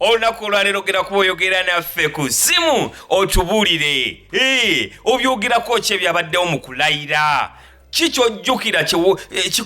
olunaku olwaleero gera kuba oyogera naffe ku zimu otubuulire eh, obyogerako ki ebyabaddewo mu kulayira ki kyojjukira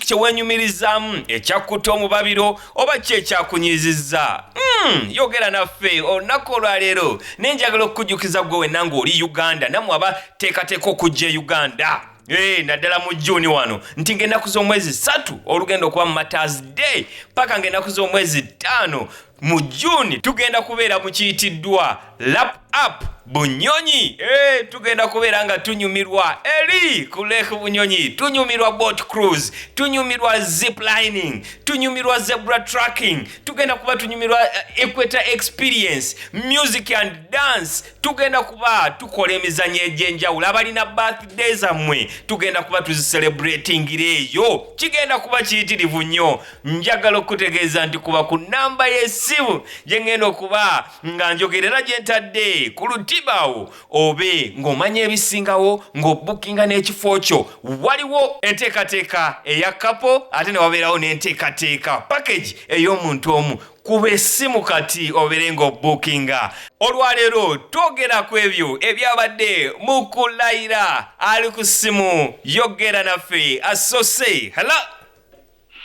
kyewenyumirizaamu eh, ekyakkuta omubabiro oba ki ekyakunyiizizza hmm, yogera naffe olunaku olwaleero naye njagala okukujjukiza gwe wenna ngaoli uganda namwe aba teekateeka okujja e uganda Hey, eh, naddala mu juni wano nti ngaenaku z'omwezi satu olugenda okuba mu maters day paka ngaenaku z'omwezi ttaano Mu June tugenda kubeera mu kiyitiddwa Lap Up Bunyonyi. Hey, tugenda kubeera nga tunyumirwa eri ku Lake Bunyonyi, tunyumirwa boat cruise, tunyumirwa zip lining, tunyumirwa zebra tracking, tugenda kuba tunyumirwa eh, equator experience, music and dance. Tugenda kuba tukola emizanyo egy'enjawulo. Abalina birthday zammwe tugenda kuba tuzicelebratingira eyo. Kigenda kuba kiyitirivu nnyo. njagala okukutegeeza nti kuba ku nnamba y'essimu gye ŋŋenda okuba nga njogerera gye ntadde ku lutibawo obe ng'omanya ebisingawo ng'obukinga n'ekifo kyo waliwo enteekateeka eya kapo ate ne wabeerawo n'enteekateeka pakagi ey'omuntu omu kuba essimu kati obeere ng'obukinga olwaleero twogera ku ebyo ebyabadde mu kulayira ali ku ssimu yogera naffe asose hala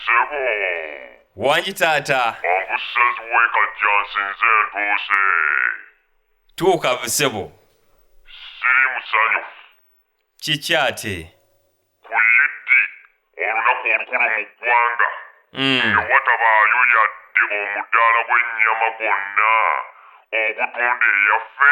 Sebo. Wangi taata. Mangu says wake up Johnson zen tuuse. Tuuka sebo. Siri musanyufu. Kiki ate? Ku yiddi olunaku olukulu mu ggwanga. Mm. Nga watabaayo yadde omudaala gw'ennyama gwonna ogutunda eyaffe.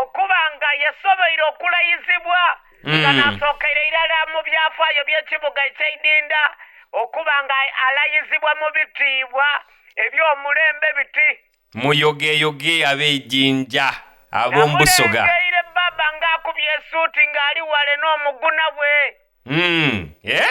okuba nga yasoboire okulayizibwa nga Mm. nasookera irala mu byafaayo by'ekibuga eky'eidinda okuba nga alayizibwa mu bitiibwa eby'omulembe biti muyogeyoge ab'ejinja ab'omu busoga namulengeire baba ng'akubye esuuti ng'ali wale n'omuguna bwe Mm, eh?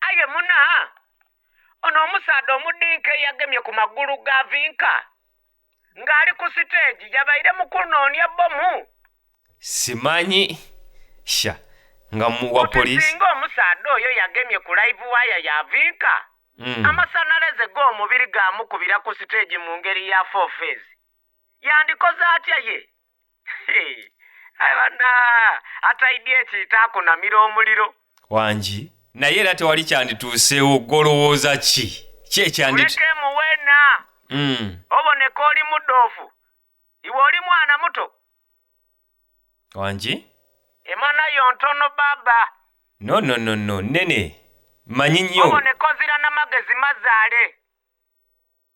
aye muna ono omusaadha omudinka eyagemye ku magulu ga vinka ng'ali ku siteegi yabaire mu kunoonya bbomu simanyi sha nga muwa polisi singa omusaadha oyo yagemye ku live waya ya vinka mm. amasanaleze g'omubiri gamukubira ku siteegi mu ngeri ya four phase yandikoze atya ye aye bana ate idea ekiitaakunamira omuliro wangi naye era tewali kyandituuseewo golowooza ki ki ekyanditulekemu wena mm. oboneka oli mudoofu iwe oli mwana muto wangi emana yo ntono baba no no no no nene manyi nnyo oboneka ozira namagezi mazaale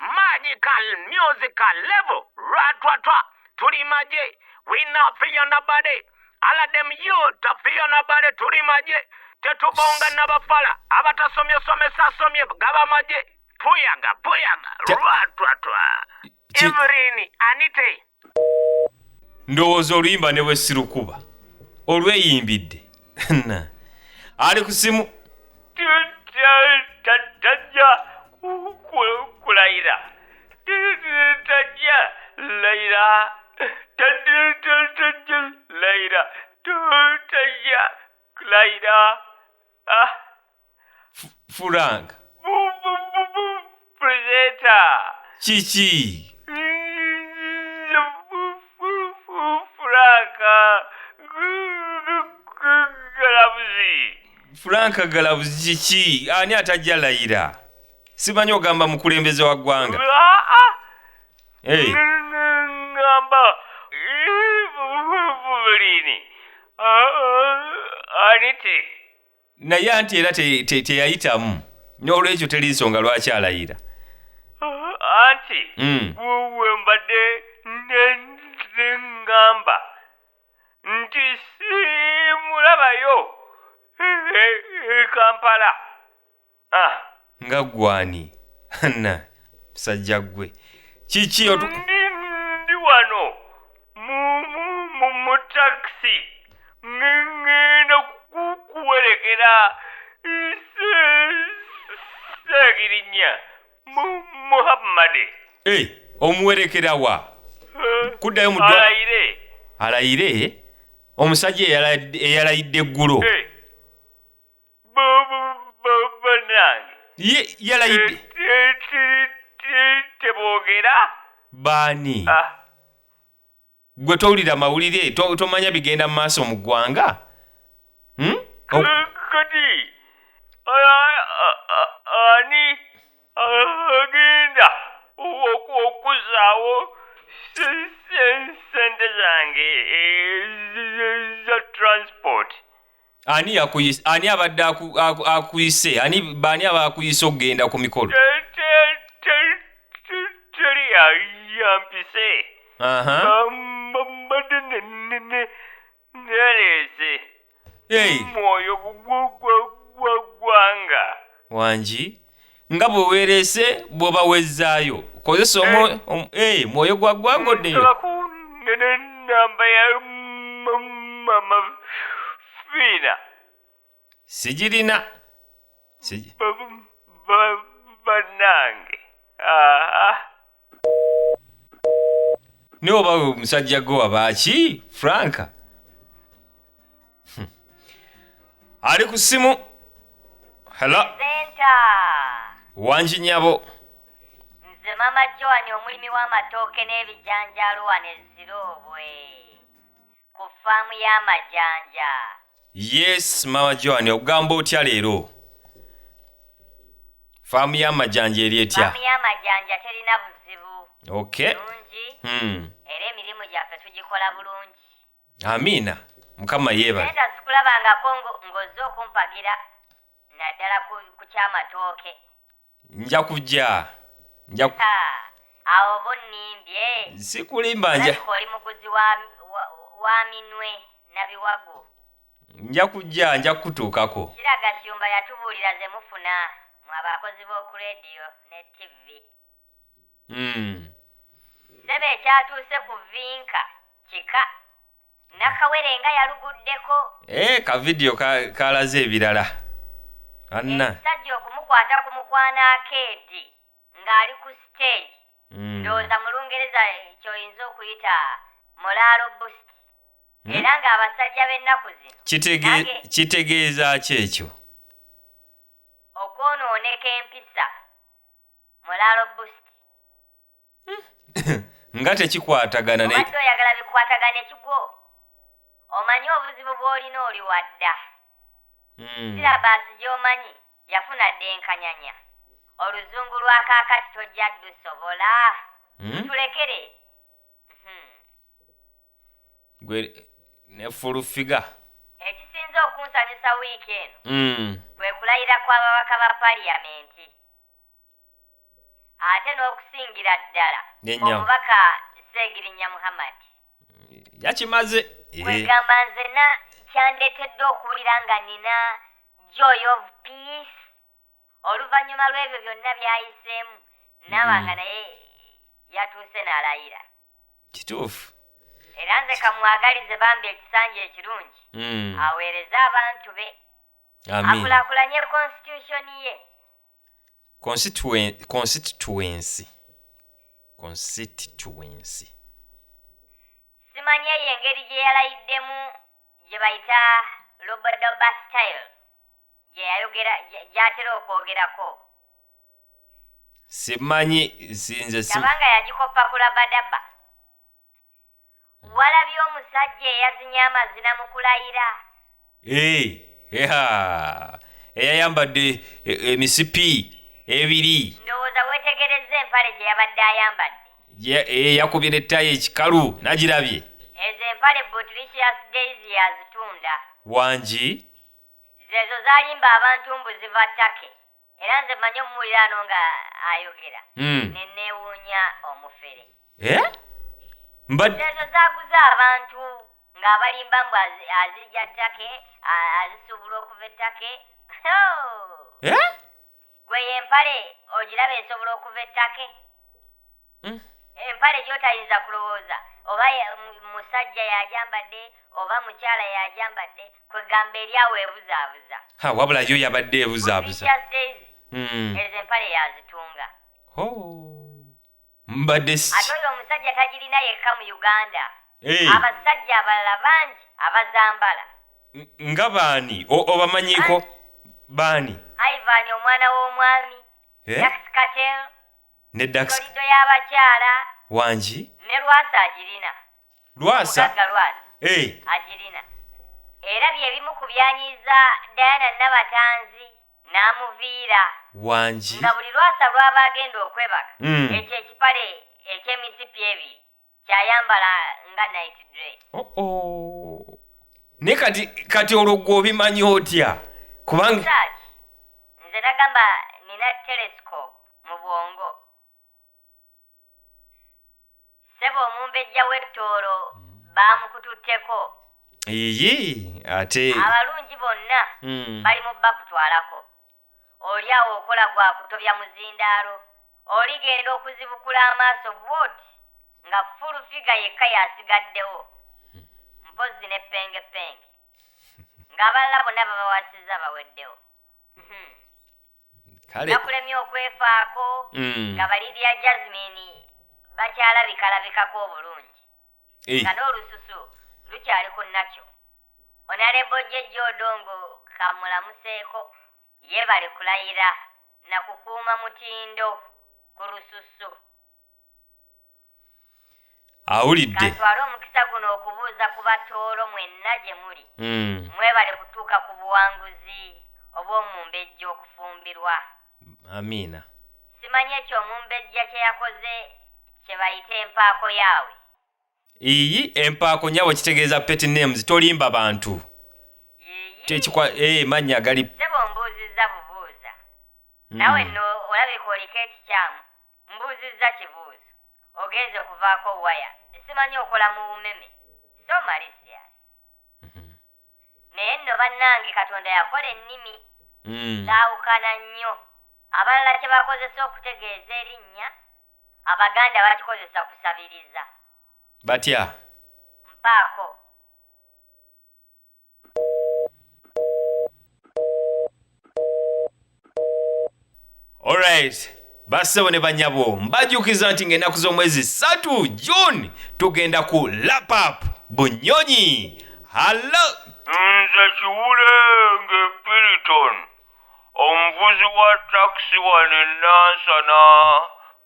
magical musical level ratwatwa tuli maje we not fear nobody all of them youth are fear nobody tuli maje tetubonga nabafala abatasomye somesa asomye gaba maje puyaga puyaga Te- ratwatwa Ki- evelyn anite ndowooza oluyimba ne bwe sirukuba olweyimbidde na ali ku simu tajja kulayira tajja layira tajja layira tajja layira Ah, Fu- furank bu, bu, bu, bu, presenter. kiki Mm, bu, bu, bu, Frank. Gu, gu, gu, galabuzi. furank galabuzi kiki ani atajja layira simanyi ogamba mukulembeze wa ggwanga Ah, ah, Hey. ngamba bulini anite naye anti era teyayitamu te, te n'olwekyo teri nsonga lwaki alayira anti mm. wembadde nengamba nti simulabayo e, e, e, kampala Ah. nga gwani na musajja gwe kiki otu- ndi ndi wano mu mu mu mu takisi ngenda kukuwerekera seegirinya mu muhammadi Eh, omuwerekera wa kuddayo mu ddwa- alayire alayire omusajja eyala- eyalayidde eggulo Eh, banange Ye- yalayidde tebogera baani gwe towulira mawulire to- tomanya bigenda mu maaso mu ggwanga Hmm? O- kati ani agenda okuzaawo sente zange za transport ani yakuyise ani abadde akuyise ani baani aba akuyise okugenda ku mikolo teri yampise mbadde naleese mwoyo gwaggwanga wangi nga bwe weereese bw'oba wezzaayo kozesa omu eh. um, eh, mwoyo gwa gwagoddeyo sigirina banange naye oba we musajja gwe wabaaki franka Hmm. ali ku simu helo Senta! wangi nyabo Nze Mama Joan omulimi w'amatooke n'ebijanjaalo wano e Ziroobwe. ku ffaamu y'amajanja. Yes, Mama Joan, ogamba otya leero? Faamu y'amajanja eri etya? Ffaamu y'amajanja terina buzibu. Okay. Bulungi Hmm. era emirimu gyaffe tugikola bulungi. Amiina. Mukama Naye yeebale. nga sikulabangako ngo- ng'ozze okumpagira naddala ku ku ky'amatooke. nja kujja nja ku- Leka, awo oba onnimbye sikulimba nja Alabika oli muguzi wa, wa, wa minwe na biwagu nja kujja nja kukutuukako kira gashumba yatubuulira ze mufuna mu abakozi b'oku rediyo ne ttivvi mm. ssebo ekyatuuse ku vinka kika nakawere nga yaluguddeko ee eh, ka vidiyo kalaze ebirala anna ekisajja okumukwata ku mukwano akeedi ng'ali ku siteegi hmm. ndowooza mu lungereza kyoyinza okuyita mulaalo bust hmm? era ng'abasajja b'ennaku zino kitegeeza ki ekyo okwonooneka empisa mulaalo bust nga tekikwatagana ne obadde oyagala bikwatagane kigwo omanyi obuzibu bw'olina oli wadda Mm. sirabaasi gy'omanyi yafuna dda enkanyanya oluzungu lwa kaakati tojja dusobola Mm. tulekere Mhm. gwe ne full figure ekisinze okunsanyusa wiiki eno Mm. kwe kulayira kw'ababaka ba paliyamenti ate n'okusingira ddala omubaka seegirinya muhammad yakimaze kwegamba eh. nzena kyandeetedde okuwulira nga nina joy of peace oluvannyuma lw'ebyo byonna byayiseemu naaba nga mm. naye yatuuse n'alayira kituufu era nze kamwagalize bambi ekisanja ekirungi mm. aweereze abantu be akulakulanye konstitutioni ye Constituen- constituency constituency simanyi eyo engeri gye yalayiddemu gye bayita lobodoba style gye yayogera gye- gy'atera okwogerako simanyi sinze sim- laba nga yagikoppa ku labadaba Walabye omusajja eyazinye amazina mu kulayira? Ee, eha, eyayambadde e, emisipi ebiri Ndowooza weetegerezza empale gye yabadde ayambadde. Gye- ee, yakubye ne ttayi ekikalu nagirabye Ezo empale Botricious Daisy yazitunda. wangi Zeezo zalimba abantu mbu ziva Turkey. era nze mmanyi omuwulira ano nga ayogera Mm. ne neewuunya omufere Eh? Mbadde ezo zaguza abantu ng'abalimba mbu azi- azirya ttake a- azisuubula okuva ettake Eh? gwe y'empale ogiraba esobola okuva ettake Mm. empale gyotayinza kulowooza oba ya- mu- musajja yajambadde oba mukyala yajambadde kwegamba eri awo ebuzaabuza ha wabula yo yabadde ebuzaabuza Precious Daisy, Mm. ezo empale yazitunga Ho. mbadde ate si oyo omusajja tagirina yekka mu uganda Eh, abasajja abalala bangi abazambala n- nga baani O- obamanyiko baani ivan omwana w'omwami Eh? jax katel ne dax Ntoliddo y'abakyala. wangi Ne Lwasa agirina. lwasa Omugagga Lwasa eh agirina. Era bye bimu ku byanyiiza Diana Nabatanzi n'amuviira. wangi Nga buli Lwasa lw'aba agenda okwebaka, Mm. ekyo ekipale eky'emisipi ebiri kyayambala nga night dress oh, oh. naye kati kati olwo gwe obimanyi otya kubanga nze nagamba nina telescope mu bwongo sebo omumbejja w'ettoolo baamukututteko iyi ate abalungi bonna hmm. bali mu bakutwalako oli awo okola gwa kutobya muzindaalo oligenda okuzibukula amaaso bwoti nga fulu figa yekka yasigaddewo mpozzi ne pengepenge ng'abalala bonna babawasizza baweddewo hmm. nakulemye okwefaako mm. nga balibya jasmine bakyalabikalabikako obulungi eh. nga n'olususu lukyali ku nakyo onalebo jejja odongo kamulamuseeko yebale kulayira na kukuuma mutindo ku lususu awulidde katwale omukisa guno okubuuza ku batoolo mwenna gye muli hmm. mwebale kutuuka ku buwanguzi obw'omumbejja okufumbirwa amiina simanyi ekyo omumbejja kyeyakoze kyebayita empaako yaawe iyi empaako nyabo kitegeeza pet names tolimba bantu kyekikwa ee mannya gali sebo mbuuzizza bubuuza hmm. nawe no olabika oliko ekikyamu mbuuzizza kibuuzo ogenze okuvaako waya simanyi okola mu umeme so malisia naye nno bannange katonda yakola ennimi mm. zaawukana nnyo abalala kye bakozesa okutegeeza erinnya abaganda bakikozesa kusabiriza batya mpaako Alright. Bassebo ne banyabo mbajukiza nti ng'ennaku z'omwezi ssatu June tugenda ku lapap bunyonyi hallo nze kiwulenge piriton omuvuzi wa takisi wano enansana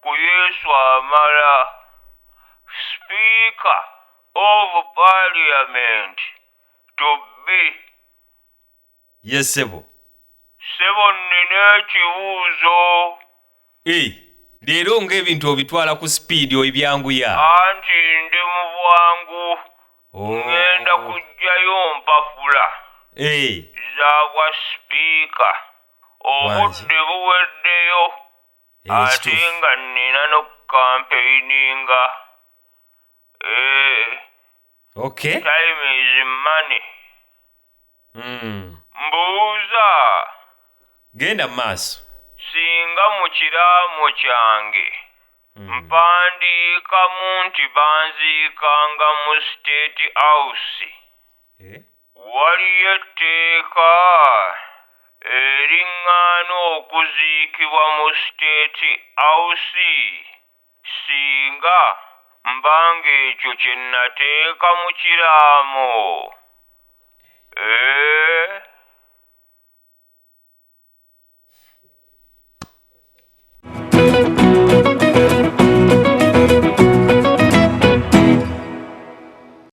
ku yesu amala sipiika of parliament to be Ye ssebo. Ssebo nnina ekibuuzo. E, Leero nga ebintu obitwala ku sipiidi oibyanguya. Anti ndi mu bwangu. Oh. Ngenda kujjayo mpapula. E. Za bwa sipiika. Obudde buweddeyo. E, Ate kituufu. nga nnina n'okukampeyininga. E. okay time is money mm. mbuuza genda mu maaso singa mu kiraamo kyange Mm. mpandiikamu nti banziikanga mu state house Eh? waliyo etteeka eriŋŋaana okuziikibwa mu state house Singa mba ng'ekyo kye nnateeka mu kiraamo, eeh.